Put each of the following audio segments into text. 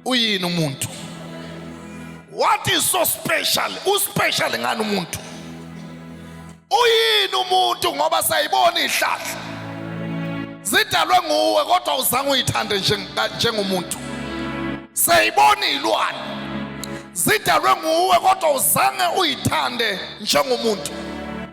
uyini umuntu what is so special uspecial ngani umuntu uyini umuntu ngoba sayibona ihlahla zidalwe nguwe kodwa uzange uyithande njengomuntu sayibona ilwane zidalwe nguwe kodwa uzange uyithande njengomuntu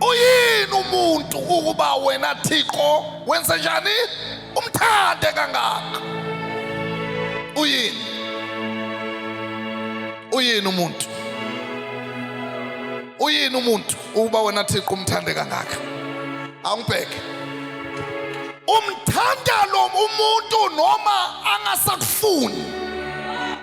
Uyini umuntu ukuba wena Thixo wenze njani umthande kangaka? Uyini? Uyini umuntu? Uyini umuntu ukuba wena Thixo umthande kangaka? Awungibheke. Umthanda lo umuntu noma angasakufuni.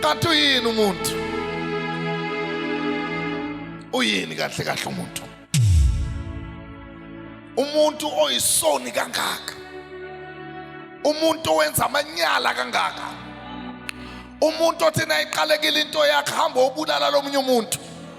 Kanti uyini umuntu? Uyini kahle kahle umuntu? Umuntu oyisoni kangaka. Umuntu owenza amanyala kangaka. Umuntu othi nayiqalekile into yakhe hamba obulala lomunye umuntu.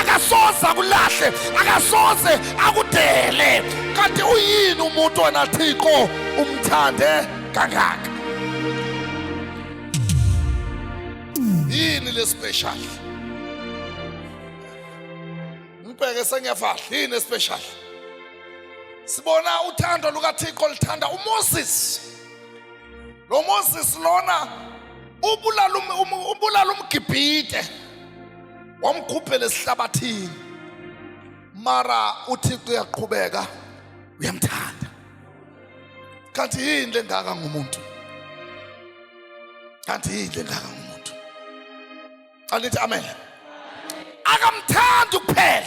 akasoze akulahle akasoze akudele kanti uyini umuntu wena thixo umthande kangaka yini lespecial ngibheke sengiyafahla yini especial sibona uthando lukathixo lithanda umoses lo moses lona ubulala umgibhide wamkhuphela esihlabathini mara uthixo uyaqhubeka uyamthanda kanti yini lengaka ngumuntu kanti yini lengaka ngumuntu alithi amen akamthandi kuphela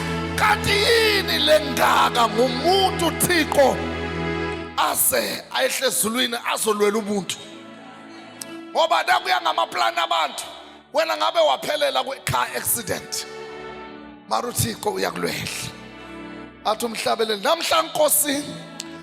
kanti yini lengaka ngumuntu Thixo aze ayehle ezulwini azolwela ubuntu ngoba nakuya ngamaplani abantu wena ngabe waphelela kwi-car accident mara uthixo uyakulwehla athi umhlabeleli namhla nkosini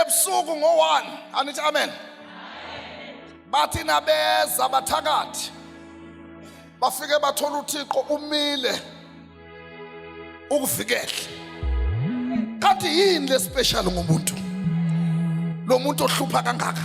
ebusuku ngo-one anithi amen bathi nabeza bathakathi bafike bathola uthixo umile ukuvikele kanti yini lespecial ngomuntu lo muntu ohlupha kangaka